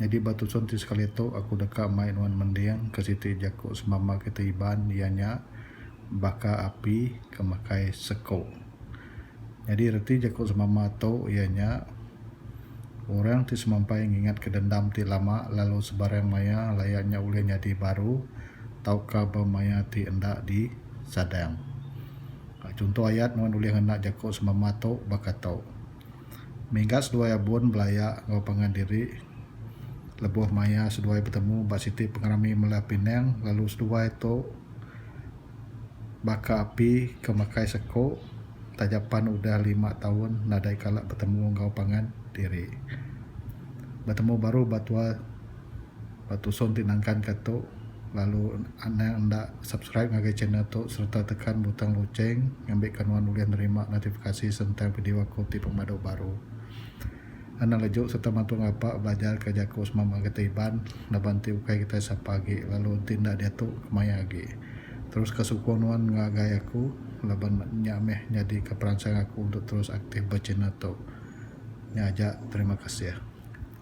Nyadi ba tusun ti sekali tu aku deka mai nuan mending ke siti jaku semama kita Iban iya nya baka api ke makai seko. Nyadi reti jaku semama tu iya nya orang ti semampai ngingatka dendam ti lama lalu sebarang maya laya nya ulih nyadi baru tauka ba maya ti enda disadang. Chunto ayat nuan ulih ngena jaku semama tu baka tu. Minggat seduai abun belaya enggau pangan diri lebuh maya seduai betemu ba siti pengerami Mela Pinang lalu seduai tu baka api ke makai seko taja pan udah lima taun nadai kala betemu enggau pangan diri. Betemu baru ba tua. ba tusung ti nangkan ka tu lalu anang enda subscribe ngagai channel tu sereta tekan butang lucheng ngambi ka nuan ulih nerima notifikasi sentang video aku ti pemadu baru anang leju sereta mantu ngapa belajar ka jaku semama kita Iban laban ti ukai kita sapa agi lalu ti enda diatu kemaya agi terus ka sukung nuan ngagai aku laban nya meh nyadi ka peransang aku untuk terus aktif ba channel tu nya aja terima kasih.